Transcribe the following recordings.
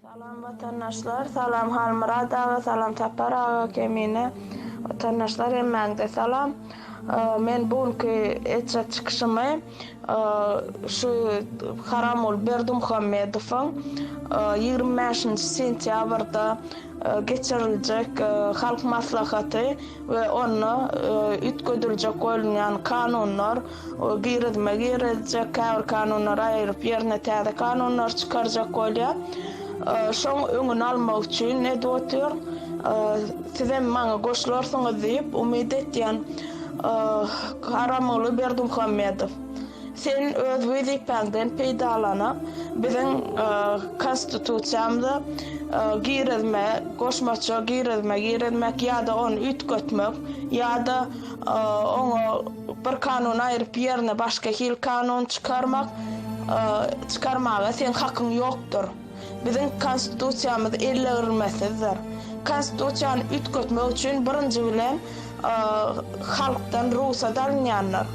Salam watandaşlar salam Halmyrat aga salam Sapar aga Kemine watandaşlar hemmäňize salam men bu günki etjek çykyşymy şu Haramgul Berdimuhamedowyň ýigrimi bäşinji sentýabrda geçiriljek halk maslahaty we onda üýtgediljek bolunýan kanunlar Ol girizme girizjek, käbir kanunlary aýryp, ýerine täze kanunlar çykarjak bolýar. Şoň öňüni almak üçin edip otyr. Sizem maňa goşularsyňyz diýip umyt etýän Haramguly Berdimuhamedow, sen öz wezipäňden peýdalanyp, biziň Konstitusiýamyza girizme, goşmaça girizme girizmek ýa-da ony üýtgetmek ýa-da oňa Bir kanuny aýryp ýerine başga hil kanun çykarmak, çykarmaga seň hakyň ýokdur. Biziň konstitusiýamyz ellegrmesizdir. Konstitusiýany üýtgetmek üçin birinji bilen halkdan rugsat alynýandyr.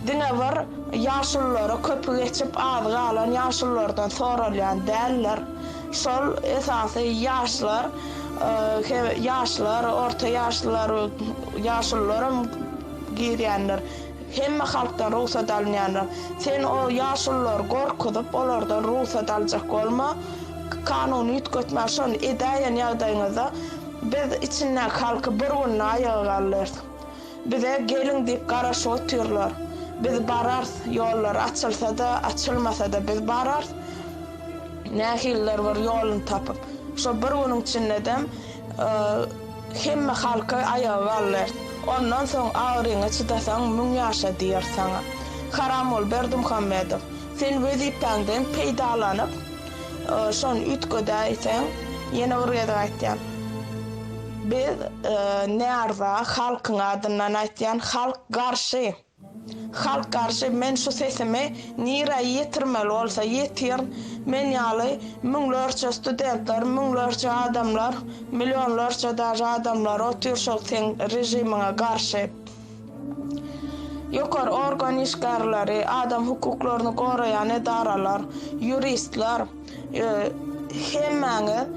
Diňe bir ýaşululara köpi geçip azy galan ýaşululardan soralýan däldir. Şol esasy ýaşlar, ýaşlar, orta ýaşlylar, ýaşulularam girýänler, hemme halkdan rugsat alynýanlar. Sen o ýaşululary gorkuzyp, olardan rugsat aljak bolma. Kanuny üýtgetmä, şony edäýen ýagdaýyňyzda biz içindäki halky bir günde aýaga galdyrs. Bize geliň diýip garaşyp otyrlar. Biz barars, ýollar açylsa-da, açylmasa-da biz barars. Nähilidir bir ýoluny tapyp. Şo bir günüň içindedem Hemme halky aýaga galdyr. Ondan soň agyryňy çydasaň müň ýaşa diýer saňa. Haramgul Berdimuhammedow, sen wezipäňden peýdalanyp, şony üýtgedäýseň, ýene bir gezek aýtýan, biz närza, halkyň adyndan aýtýan, halk garşy. Halk garşy men şu sesimi nirä ýetirmeli bolsa ýetir men ýaly müňlerçe studentler müňlerçe adamlar millionlarça daže adamlar otyr şol seň režimiňe garşy ýokary organ işgärleri adam hukuklaryny goraýan edaralar ýuristler Hemmäňiz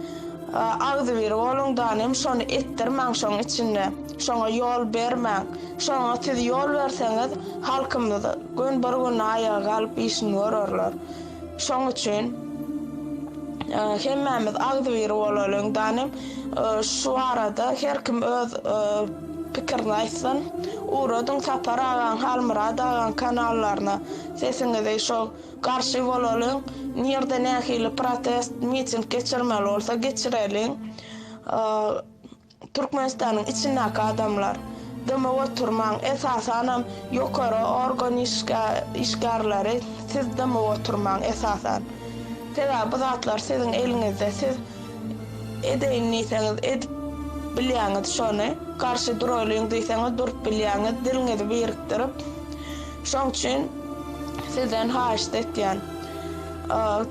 agzybir boluň danym, şony etdirmäň şoň içinde. Şoňa ýol bermäň. Şoňa siz ýol berseňiz, halkymyz gün bir gün aýaga galyp işini görerler. Şoň üçin hemmämiz agzybir bolalyň danym. Şu barada her kim öz pikirini aýtsyn. Ugradyň Sapar agaň, Halmyrat agaň kanallaryna sesiňizi şo Garşy bolalyň, nirde nähili protest, miting geçirmeli bolsa geçireliň. Türkmenistanyň içindäki adamlar, dymyp oturmaň, esasanam ýokary organ işgärleri siz dymyp oturmaň esasan. Sebäbi bu zatlar siziň eliňizde, siz edeýin diýseňiz edip bilýäňiz şony, garşy duraýlyň diýseňiz durup bilýäňiz, diliňizi birikdirip, Şoň üçin sizden haýyşt etýän,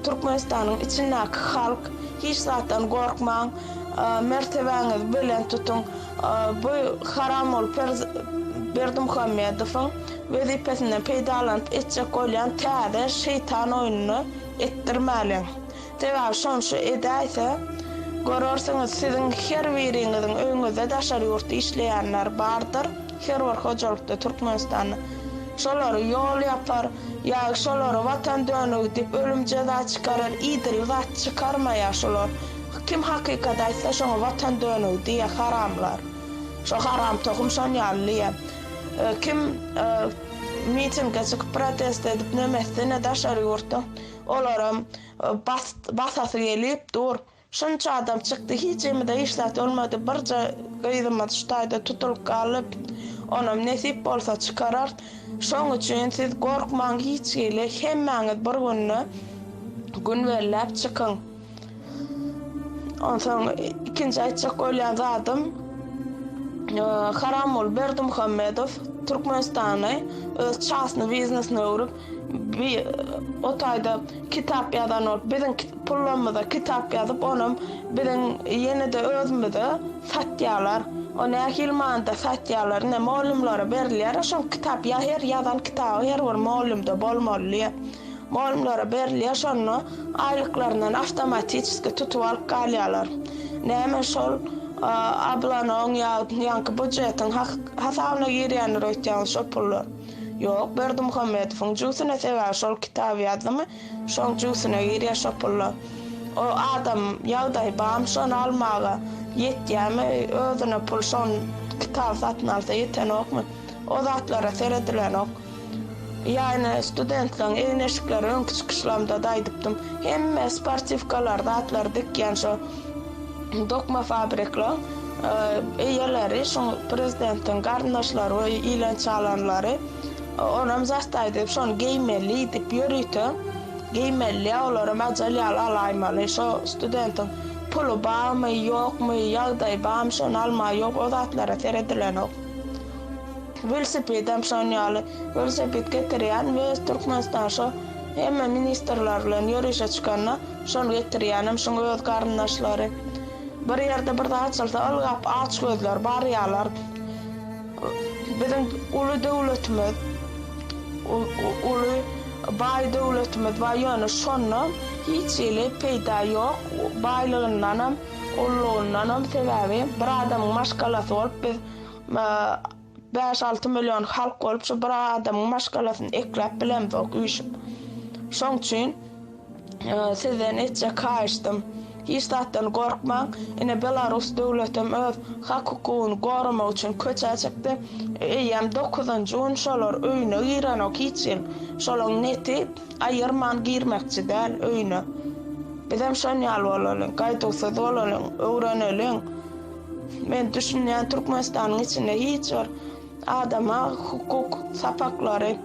Türkmenistanyň içindäki halk, hiç zatdan gorkmaň, mertebäňizi belent tutuň, bu Haramguly Berdimuhamedowyň wezipesinden peýdalanyp etjek bolýan täze şeýtan oýnuny etdirmäliň. Sebäbi şonça edäýse, görersiňiz, siziň her biriňiziň öýüňizde daşary ýurtda işleýänler bardyr, her bir hojalykda Türkmenistanda. Şolary ýol ýapar, ýa şolary Watan dönügi diýip ölüm jeza çykarar, idil zat çykarmaýar şolar. Kim hakykat aýtsa şoňa Watan dönügi diýýär haramlar. Şo haram tohum şon ýaly diýýär. Kim mitinge çykyp protest edip nemesdine daşary ýurtda. Olaram basasy gelip dur. Şunça adam çykdy, hiçimize hiç zat bolmady. Birje gyzymyz şu taýda tutulyp galdy. Onam nesip bolsa çykararys. Şoň üçin siz gorkmaň hiç hili. Hemmäňiz bir günde gün belläp çykyň. Onsoň ikinji aýtjak bolýan zadym Haramul Berdimuhammedow Türkmenistany öz çasny biznesine öwrüp, bi o taýda kitap ýazan bolup, biziň pullarymyza kitap ýazyp, onam biziň ýene-de özümize satýarlar. O nähili manyda satýarlar? Ine, mugallymlara berilýär-ä şol kitap. Ýa her ýazan kitaby her bir mugallymda bolmalydy. Mugallymlara berilýär şonda aýlyklaryndan awtomatiçeski tutup alyp galýarlar. Näme şol ablanyň ýaňky budjetiň hasabyna girýändir öýtýäňiz şo pullar? Ýok Berdimuhamedowyň jübsüne sebäbi şol kitaby ýazdymy şoň jübsüne girýär şo pullar. O adam ýagdaýy barmy şony almaga ýetýämi özüne pul şon kitaby satyn alsa ýetenokmy o zatlara seredilenok. Ýany studentleriň egin-eşikleri öňki çykyşlarymda-da aýdypdym. Hemme sportiwkalar, zatlar dikýän şo dokma fabrikleriň eýeleri, şu prezidentiň garyndaşlary we ilan çalanlary. Onam zastaý diýip, şony geýmeli diýip ýörite geýmeliä, olaram ajal ýaly alaýmaly. Şo studentiň puly barmy, ýokmy, ýagdaýy barmy, şony almagy ýok, o zatlara seredilenok. Welosipedem şon ýaly. Welosiped getirýän we öz Türkmenistan şo hemme ministrler bilen ýörişe çykanda şony getirýänem şuň öz garyndaşlary. Bir ýerde bir zat açylsa ylgap aç gözler barýalar. Biziň uly döwletimiz uly baý döwletimiz bar ýöne şondan hiç hili peýda ýok baýlygyndanam ullugyndanam sebäbi bir adamyň maşgalasy bolup biz Bäş-alty million halk bolup, şu bir adamyň maşgalasyny ekläp bilemzok üýşüp. Şoň üçin sizden etjek haýyşdym, hiç zatdan gorkmaň. Ine, belarus döwletem öz hak-hukugyny goramak üçin köçä çykdy. Eýýäm dokuzynjy gün şolar öýüne girenok hiç ýyl. Şolaň neti aýyrman girmekçi däl öýüne. Bizem şon ýaly bolalyň, gaýduwsyz bolalyň, öwreneliň. Men düşünýän Türkmenistanyň içinde hiç bir adama hukuk sapaklary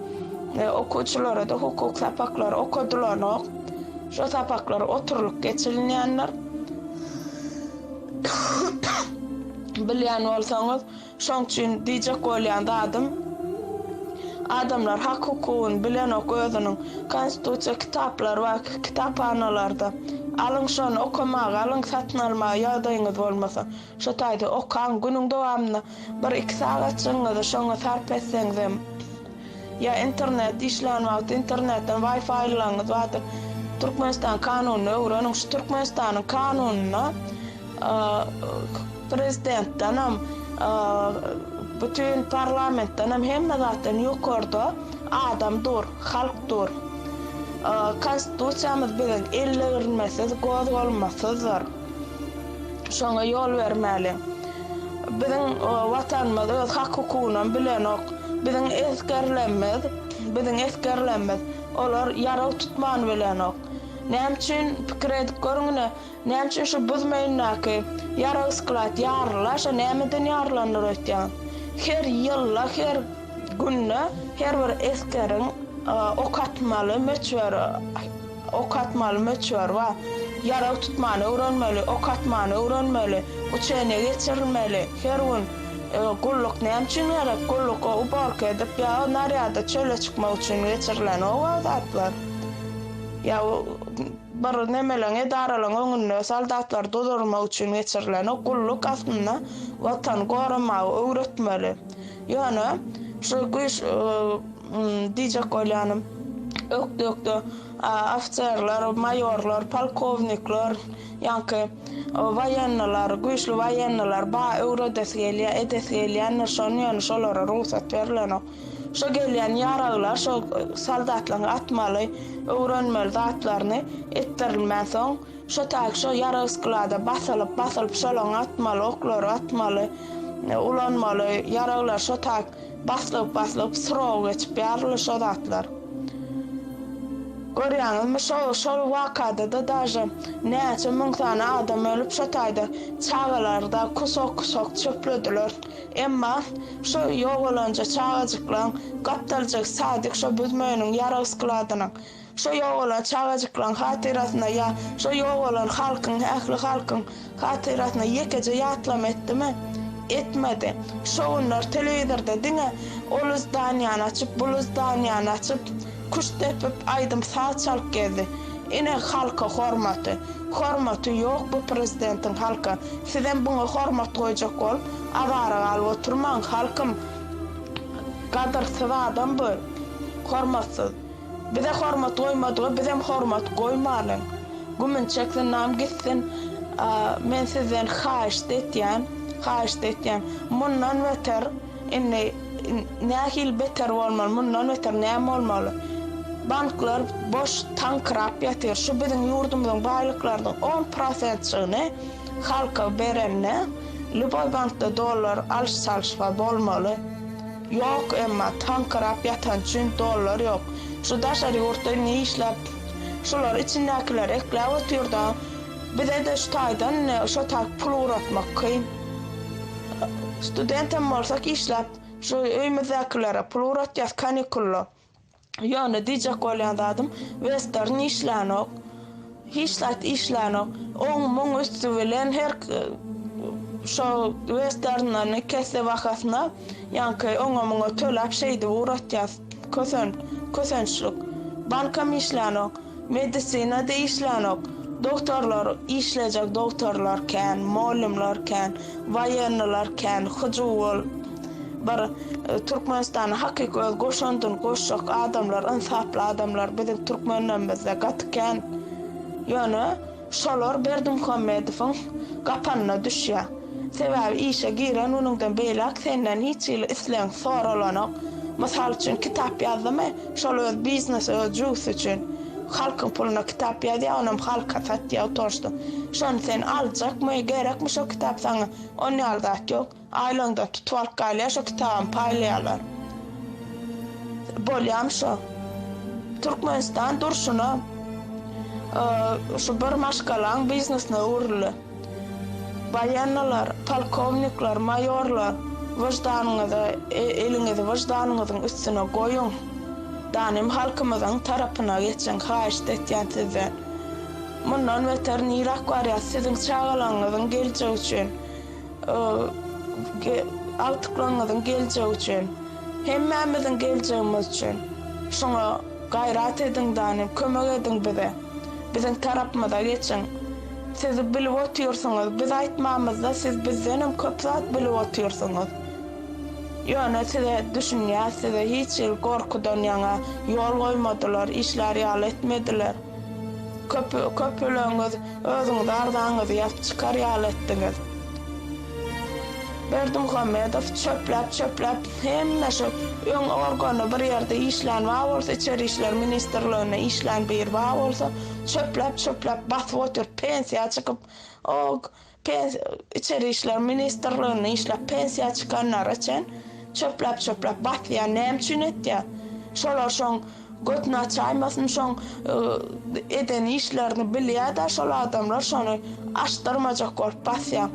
e, okuwçylara da hukuk sapaklary okadylanok. Şu sapaklar oturylyp geçirilýänler. Bilýän bolsaňyz, şoň üçin diýjek bolýan zadym Adamlar hak hukugyny bilenok özüniň konstitusiýa kitaplar bar kitaphanalarda alyň şony okamaga alyň satyn almaga ýagdaýyňyz bolmasa şo taýda okaň günüň dowamynda bir iki sagatjygyňyzy şoňa sarp etseňizem ýa internet işlän wagty internetden waýfaýlylaryňyz bardyr Türkmenistan kanunyny öwreniň şu Türkmenistanyň kanunyna Prezidentdenem, bütin parlamentdenem, hemme zatdan ýokarda adam dur, halk dur. Konstitusiýamyz biziň ellegirmesiz, gozgalmasyzdyr. Şoňa ýol bermäliň. Biziň Watanymyz öz hak-hukugynam bilenok. Biziň esgerlerimiz, biziň esgerlerimiz olar ýarag tutman bilenok. Näme üçin pikir edip görüň ine. Näme üçin şu buz meýnindäki ýarag sklad ýaryla, şo nämeden ýarylandyr öýtýän? Her ýylda, her günde her bir eskeriň ok atmaly möçberi, ok atmaly möçberi bar. Ýarag tutmany öwrenmeli, ok atmany öwrenmeli, uçeniýa geçirilmeli. Her gün gulluk näme üçin gerek? Gulluk uborka edip ýa narýada çöle çykmak üçin geçirilen oba zatlar. Ýa Bir nemeleň edaralaň öňünde soldatlar dozormak üçin geçirileni gulluk aslynda watan goramagy öwretmeli. Ýöne şu güýç diýjek bolýanym ökde-ökde ofiserler, maýorlar, polkownikler ýaňky waýenneler, güýçli waýenneler ba öwredesi gelýär, edesi gelýändir şony ýöne şolara rugsat berilenok. Şo gelýän ýaraglar, şo soldatlaryň atmaly, öwrenmeli zatlaryny etdirilmän soň, şo taýy şo ýarag sklada basylyp, basylyp, şolaryň atmaly oklary, atmaly, ulanmaly ýaraglar şo taý baslyp, baslyp, srok geçip ýaryly şo zatlar. Görýäňizmi, şo, şol wakada-da daže näçe müň sany adam ölüp, şo taýda çagalar-da kusok-kusok çöplediler. Emma şo ýogalanja çagajyklaň gapdaljyk sadyk şo büzmeýiniň ýarag skladynyň, şo ýogalan çagajyklaň hatyrasyna ýa şo ýogalan halkyň, ähli halkyň hatyrasyna ýekeje ýatlama etdimi? Etmedi. Şo günler telewizorda diňe ol yzdanýany açyp, bul yzdanýany açyp, Küşt depip, aýdym-saz çalyp gezdi. Ine halka hormaty. Hormaty ýok bu prezidentiň halka. Sizem buňa hormat goýjak bolup, azara galyp oturmaň, halkym. Gadyrsyz adam bu. Hormatsyz. Bize hormat goýmadyga bizem hormat goýmalyň. Gümün çeksin nam gitsin. Men sizden haýyşt etýän. Haýyşt etýän. Mundan beter. Indi nähili beter bolmaly, mundan beter näme bolmaly? Banklar boş taňkyrap ýatyr. Şu biziň ýurdumyzyň baýlyklarynyň on prosentjigini halka berende, lýuboý bankda dollar alyş-çalyş bar bolmaly. Ýok, emma taňkyrap ýatan üçin dollar ýok. Şu daşary ýurtda ne işläp, şular içindäkiler ekläp otyr-da, bize-de şu taýdan şo taý pul ugratmak kyn. Student hem bolsak işläp, şu öýmüzdäkilere pul ugratýas kanikulda. Ýöne diýjek bolýan zadym, Western işlänok. Hiç zat işlänok. Oň muň üsti bilen her şo Westerndan kesse bahasyna ýaňky oňa muňa töläp şeýdip ugratýas. Kösen, kösençlik. Bankam işlänok. Medisina-da işlänok. Dogtorlar, işlejek dogtorlar kän, mugallymlar kän, waýenniler kän, hyjuwwul bir Türkmenistana hakyky öz goşandyny goşjak adamlar, ynsaply adamlar biziň türkmenlerimizde gaty kän. Ýöne. Şolar Berdimuhamedowyň gapanyna düşýär. Sebäbi işe giren günüňden beýläk senden hiç hili islegiň soralanok. Mysal üçin, kitap ýazdymy, şol öz biznesi, öz jübüsi üçin. Halkyň puluna kitap ýazýar, onam halka satýar oturşda. Şony sen aljakmy, gerekmi şo kitap saňa? Onýaly zat ýok. Aýlaňda tutup alyp galýar şo kitabam paýlaýarlar. Bolýam şo. Türkmenistan durşuna şu bir maşgalaň biznesine öwrüldi. Baýennalar, polkownikler, maýorlar wyždanyňyzy eliňizi wyždanyňyzyň üstüne goýuň. Danym halkymyzyň tarapyna geçiň haýyşt etýän sizden. Mundan beter nirak barýas siziň çagalaňňyzyň geljegi üçin. Agtyklaryňyzyň geljegi üçin, hemmämiziň geljegimiz üçin şuňa gaýrat ediň danym, kömek ediň bize. Biziň tarapymyza geçiň. Siz bilip otyrsyňyz, biz aýtmamyzda siz bizdenem köp zat bilip otyrsyňyz. Ýöne size düşünýäs, size hiç hili gorkudan ýaňa ýol goýmadylar, işlär ýaly etmediler. Köp, köpüleňiz özüňizi agzaňyzy ýazyp çykar ýaly etdiňiz. Berdimuhamedow çöpläp, çöpläp hemme şu öň organda bir ýerde işlän bar bolsa içeri işler ministrliginde işlän biri bar bolsa çöpläp, çöpläp basyp otyr pensiýa çykyp o Içeri işler ministrliginde işläp pensiýa çykanlara çen çöpläp çöpläp basýar näme üçin etýär şolar şoň götüni açaýmasyn şoň eden işlerini bilýär da şol adamlar şony açdyrmajak bolup basýar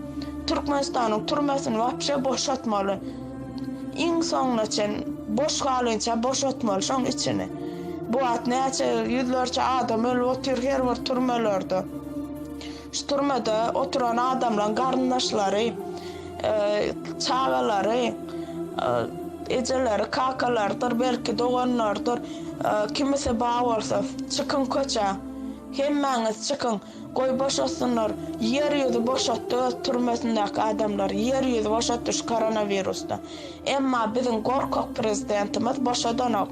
Türkmenistanyň türmesini wapşe boşatmaly iň soňuna çen boş galynça boşatmaly şoň içini bu wagt näçe ýüzlerçe adam ölüp otyr her bir türmelerde. Şu türmede oturan adamlaryň garyndaşlary, çagalary, ejeleri, kakalarydyr, belki, doganlarydyr, kimisi bar bolsa, çykyň köçä, hemmäňiz çykyň, goý boşatsynlar, ýer ýüzi boşatdy öz türmesindäki adamlary, ýer ýüzi boşatdy şu koronawirusdan. Emma biziň gorkak prezidentimiz boşadanok.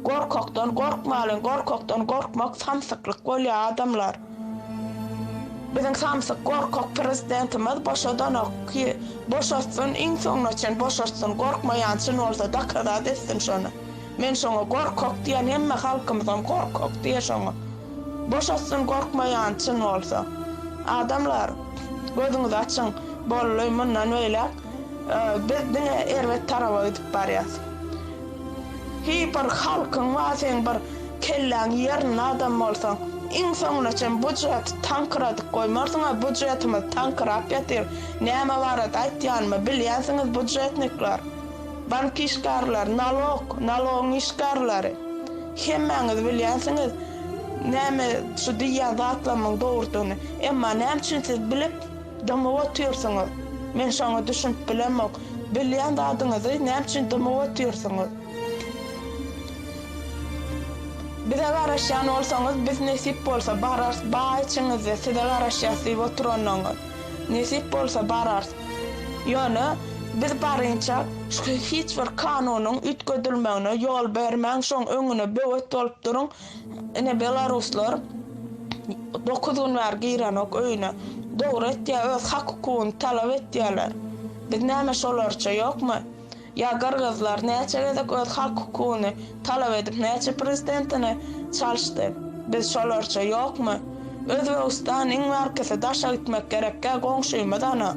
Gorkakdan gorkmalyň, gorkakdan gorkmak samsyklyk bolýar adamlar. Biziň samsyk gorkak prezidentimiz boşadanok ki boşatsyn iň soňuna çen boşatsyn gorkmaýan çyn bolsa dakazat etsin şony men şoňa gorkak diýen hemme halkymyzam gorkak diýe şoňa boşatsyn gorkmaýan çyn bolsa adamlar gözüňizi açyň bolly mundan beýläk Biz diňe erbet taraba gidip barýas. Heý bir halkyň bar seň bir kelläň ýerinde adam bolsaň iň soňuna çen bu jiheti tankyradyp goýmarsyňa bu jihetimiz tankyrap ýatyr näme barada aýtýanymy bilýänsiňiz budjetnikler bank işgärleri nalog nalogyň işgärleri hemmäňiz bilýänsiňiz näme şu diýýän zatlamyň dogrudygyny emma näme üçin siz bilip Dymyp otyrsyňyz. Men şoňa düşünip bilemok. Bilýän zadyňyzy näme üçin dymyp otyrsyňyz? Bize garaşýan bolsaňyz, biz nesip bolsa bararys, baý içiňizde size garaşýas diýip oturanlaňyz. Nesip bolsa bararys. Ýöne, biz barynça hiç bir kanunyň üýtgedilmegine ýol bermäň, şoň öňüne böwet bolup duruň. Ine belaruslar dokuz gün bäri girenok öýüne. Dogry etýä öz hak hukugyny talap etýäler. Biz näme şolarça ýokmy? Ýa gyrgyzlar näçe gezek öz hak hukugyny talap edip näçe prezidentini çalşdy. Biz şolarça ýokmy? Özbegistan iň bärkisi daşa gitmek gerekkä goňşymyz ana.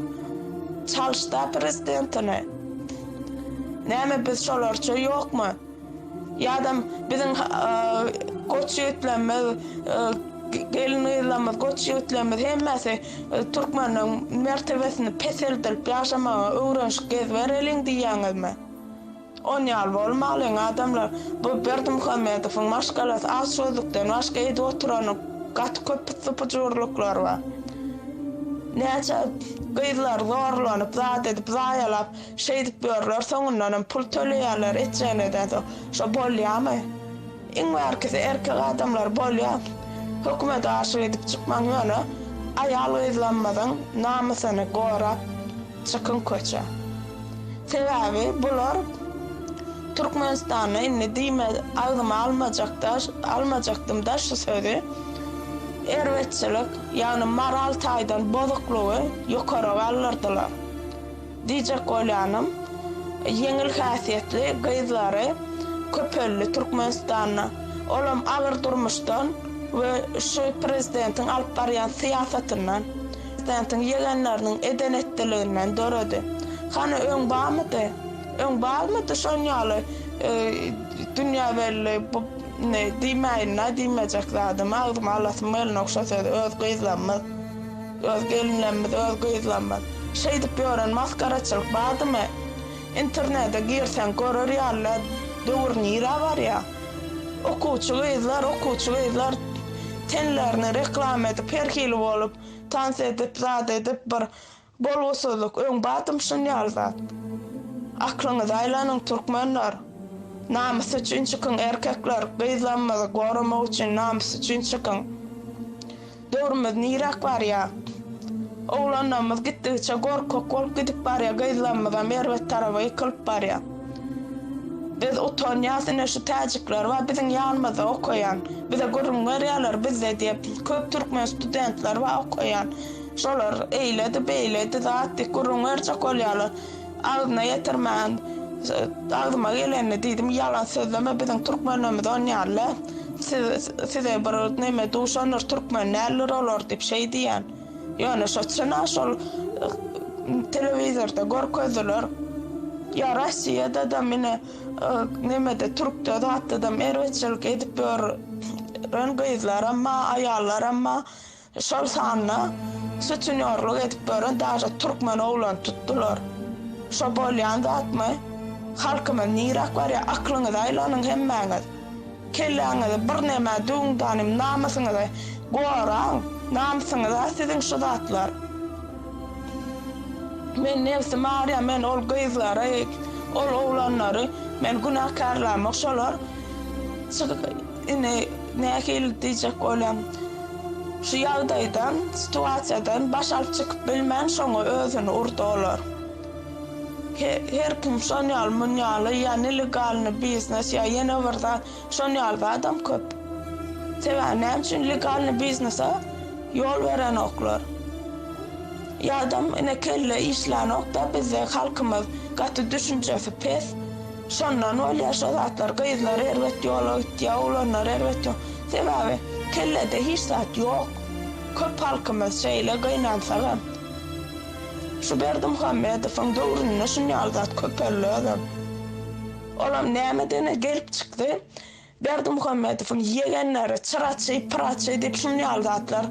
Çalşda prezidentini. Näme biz şolarça ýokmy? Ýa-da biziň goç ýigitlerimiz, gelin-gyzlarymyz, goç ýigitlerimiz hemmesi türkmeniň mertebesini peseldilip ýaşamaga öwrenişip gezibereliň diýýäňizmi? On ýaly bolmalyň adamlar, bu Berdimuhamedowyň maşgalasy az sözlükden başga edip oturany gaty köp pyssy-pyjurlyklary bar. Näçe gyzlar zorlanyp zat edip zaýalap. Şeýdip ýörler, soňundanam pul töleýärler, etjegini edäýse, şo bolýamy? Iň bärkisi erkek adamlar bolýa. Hökümede aşyk edip çykmaň ýöne aýal-gyzlarymyzyň namysyny gorap çykyň köçä. Sebäbi bular Türkmenistanda indi diýme agzyma almajakda almajakdymda şu sözi, erbetçilik, ýagny moral taýdan bozuklygy ýokara galdyrdylar. Diýjek bolýanym, ýeňil häsiýetli gyzlary köpeldi Türkmenistanda. Olam agyr durmuşdan we şu prezidentiň alyp barýan syýasatyndan, prezidentiň ýegenleriniň eden-etdiliginden döredi. Hany öň barmydy? Öň barmydy şon ýaly dünýä belli bu diýmäýin-dä diýmejek zadymy agzyma alasym gelnok şo sözi öz gyzlarymyz. Öz gelinlerimiz, öz gyzlarymyz. Şeýdip ýören masgaraçylyk bardymy? Internede girseň görer ýaly-la döwür nirä barýa? Okuwçy gyzlar, okuwçy gyzlar tenlerini reklama edip her hili bolup tans edip zat edip bir bolgusyzlyk öň bardymy şun ýaly zat? Aklyňyzy aýlanyň türkmenler. Namys üçin çykyň erkekler gyzlarymyzy goramak üçin namys üçin çykyň. Döwrümiz niräk barýa? Oglanlarymyz gitdigiçe gorkak bolup gidip barýa, gyzlarymyzam erbet taraba ýykylyp barýa. Biz utanýas, ine şu täjikler bar biziň ýanymyzda okaýan, bize gürrüň berýärler bizde diýip köp türkmen studentler bar okaýan, şolar eýledi beýledi zat diýip gürrüň berjek bolýarlar. Agzyna ýetirmän, agzyma gelenini diýdim, ýalan sözleme, biziň türkmenlerimiz on ýaly-la, siz, size bir neme duşandyr, türkmen däldir olar diýip şeý diýen. Ýöne şo çyn-a şol telewizorda görkezdiler. Ýa Rossiýada-da mine, nemede türkde zatdadam erbetçilik edip ýör ren gyzlaram ba, aýallaram ba. Şol sanda sutenýorlyk edip ýören daşy türkmen oglany tutdular. Şo bolýan zatmy? Halkymyz niräk barýar? Aklyňyzy aýlanyň hemmäňiz. Kelläňizi birneme düwüň danym, namysyňyzy goraň. Namysyňyz-a siziň şu zatlar. Men nebsim arýar, men ol gyzlary, ol oglanlary men günäkärlämok, şolar Indi nähili diýjek bolýan. Şu ýagdaýdan, situasiýadan baş alyp çykyp bilmän şoňa özüni urdy olar. Her kim şon ýaly mun ýaly ýa nelegalny biznes ýa ýene bir zat şon ýaly zadam köp. Sebäbi näme üçin legalny biznese ýol berenoklar. Ýadam ine kelle işlänokda bizde halkymyz gaty düşünjesi pes. Şondan bolýar şo zatlar, gyzlar erbet ýola gitýär, oglanlar erbet ýola. Sebäbi kellede hiç zat ýok. Köp halkymyz şeýle gynansagam, şu Berdimuhamedowyň döwründe şunýaly zat köpeldi özem. Olam nämeden-ä gelip çykdy. Berdimuhamedowyň ýegenleri çyraçy, pyraçy diýip şuny ýaly zatlar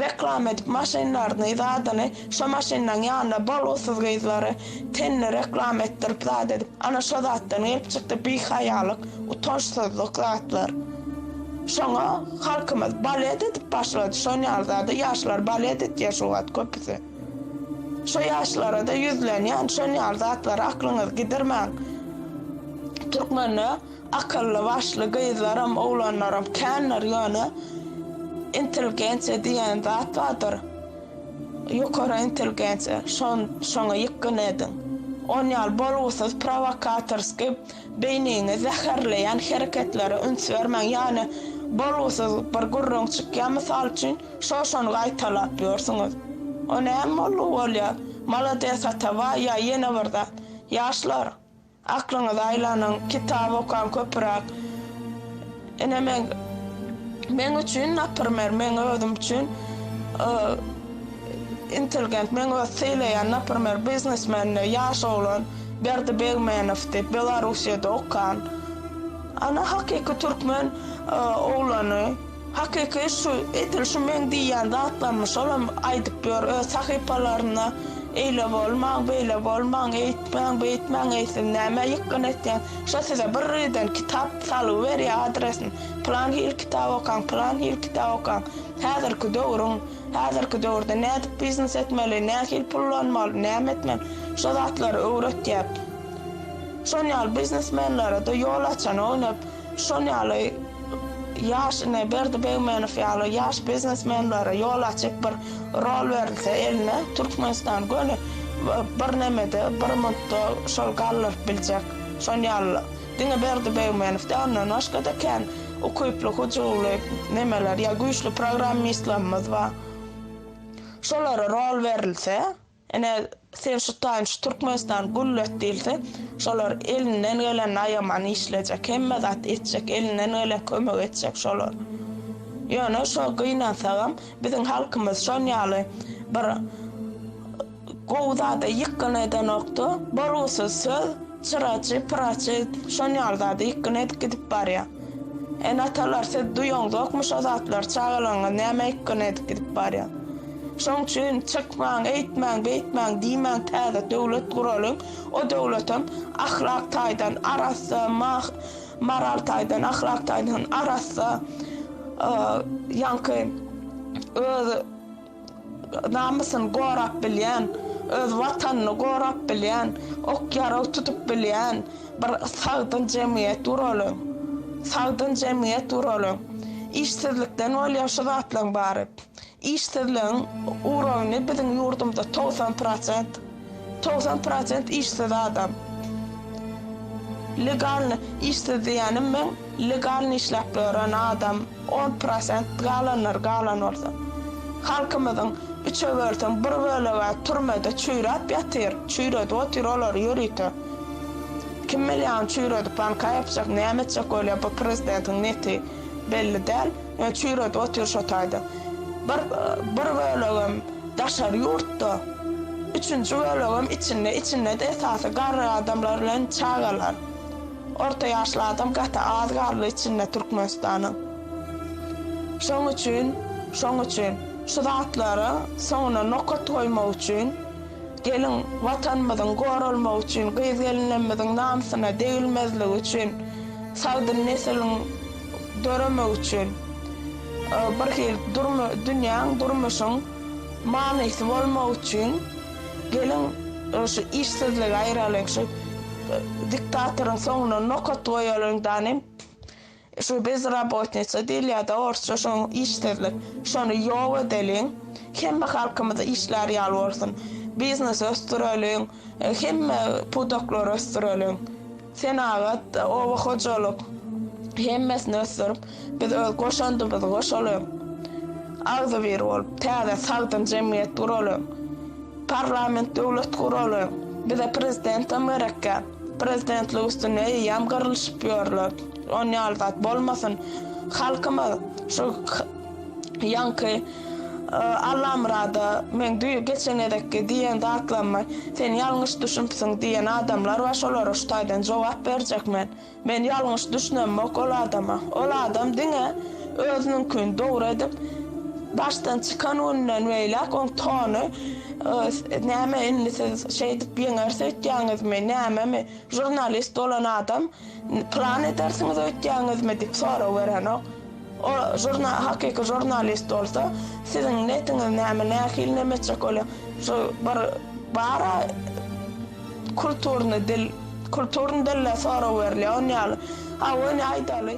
reklama edip maşynlaryny zadyny şo maşynlaň ýanynda bolgusyz gyzlary tenini reklama etdirip zat edip ana şo zatdan gelip çykdy bihaýalyk utançsyzlyk zatlar şoňa halkymyz balet edip başlady şon ýaly zada ýaşlar balet etýär şu wagt köpüsi. Şu ýaşlara-da ýüzlenýän, şonýar zatlary aklyňyzy gidirmäň. Türkmende akylly, başly gyzlaram, oglanlaram kändir, ýöne intelligensiýa diýen zat bardyr, ýokary intelligensiýa, şoňa ýykgyn ediň. Onýaly bolgusyz, prowokatorskiý. Beýniňi zäherleýän hereketlere üns bermäň, ýagny bolgusyz bir gürrüň çykýar, mysal üçin, şo-şony gaýtalap ýörsüňiz. O näme bolgy bolýar? Malades Atabaý ýa ýene bir zat? Ýaşlar, aklyňyzy aýlanyň, kitap okaň köpüräk. Ine men, meň üçin, naprimer, meň özüm üçin intelgent, meň öz sylaýan, naprimer, biznesmende ýaş oglan Berdi Begmenow diýip, Belarusýada okan, ana, hakyky türkmen oglany, hakyky şu edil şu meň diýýän zatlarymy şolam aýdyp ýör öz sahypalarynda, eýle bolmaň, beýle bolmaň, eýtmäň, beýtmäň, eý siz nämä ýykgyn etýäň, Şo size birden kitap salyberýär adresini, pylan hili kitap okaň, pylan hili kitap okaň, häzirki döwrüň, häzirki döwürde nädip biznes etmeli, nähili pullanmaly, näme etmeli, şo zatlary öwretýär. Şon ýaly biznesmenlere-de ýol açan oýnap, şon ýaly. Ýaş ine Berdi Begmenow ýaly ýaş biznesmenlere ýol açyp bir rol berilse eline Türkmenistan göni bir nemede bir mundda şol galdyryp biljek şon ýaly diňe Berdi Begmenow däl ondan başgada kän ukyply hujubly nemeler ýa güýçli programmistlerimiz bar şolara rol berilse Ine, sen şu taýyn şu Türkmenistany güllet diýilse, şolar elinden gelenini aýaman işlejek, hemme zat etjek, elinden gelen kömegi etjek şolar. Ýöne şo gynansagam, biziň halkymyz şon ýaly bir gowy zada ýykgyn edenok-da, bolgusyz söz, Çyraçy, pyraçy şon ýaly zady ýykgyn edip gidip barýa. Ene-atalar siz duýaňzokmy şo zatlary çagalaryňyz näme ýykgyn edip gidip barýa. Şoň üçin çykmaň eýtmäň beýtmäň diýmäň täze döwlet guralyň o döwletem ahlak taýdan arassa mah maral taýdan ahlak taýdan arassa ýaňky öz Namysyny gorap bilýän, öz Watanyny gorap bilýän, ok-ýarag tutup bilýän bir sagdyn jemgyýet guralyň. Sagdyn jemgyýet guralyň. Işsizlikden bolýar şu zatlaryň bary. Işsizligiň uragyny biziň ýurdumyzda togsan prosent. Togsan prosent işsiz adam. Legalny işsiz diýýänim meň legalny işläp ýören adam on prosent galanlary galan bolsa. Halkymyzyň üçe bölseň bir bölege türmede çüýräp ýatyr, çüýredip otyr olary ýörite. Kim bilýä ony çüýredip banka ýapjak näme etjek bolýa bu prezidentiň neti belli däl. Çüýredi otyr şo taýda. Bir bir bölegem daşary ýurtda, üçünji bölegem içinde, içinde-de esasy garry adamlar bilen çagalar. Orta ýaşly adam gaty az garry içinde Türkmenistanyň. Şoň üçin, şoň üçin şu zatlara soňuna nokat goýmak üçin, gelin Watanymyzyň goralmagy üçin, gyz-gelinlerimiziň namsyna degilmezligi üçin sagdyn nesiliň, döremek üçin bir hili dünýäň, durmuşyň manysy bolmak üçin geliň şu işsizligi aýralyň, şu diktatoryň soňuna nokat goýalyň danem, şu bezrabotnitsa diýilýärda orsça şo işsizlik, şony ýok edeliň, hemme halkymyz işlär ýaly bolsun, biznesi ösdüreliň. Hemme pudaklary ösdüreliň. Senagat, oba hojalyk hemmesini ösdürip, biz öz goşandymyzy goşalyň. Agzybir bolup, täze sagdyn jemgyýet guralyň. Parlament döwlet guralyň. Bize prezidentem gerekkä. Prezidentlik üstünde eýýäm gyrlyşyp ýörler. Onýaly zat bolmasyn. Halkymyz şu. Ýaňky Allamyrada men düýe geçen gezekki diýen zatlaryma sen ýalňyş düşünpsiň diýen adamlar bar şolara şu taýdan jogap berjek men. Men ýalňyş düşünemok ol adama. Ol adam diňe özüniňkini dogry edip başdan çykan günden beýläk oň tony näme indi siz şeýdip ýeňer söýtýäňizmi nämemi žurnalist bolan adam Plan edersiňiz öýtýäňizmi? diýip sorag berenok. Ol žurnal, hakyky žurnalist bolsa, siziň netiňiz näme, nähili neme etjek bolýar? Şu bir bar-a, kulturny dil, kulturny dille sorag berilýär, on ýaly. Hawa, ine aýdaly.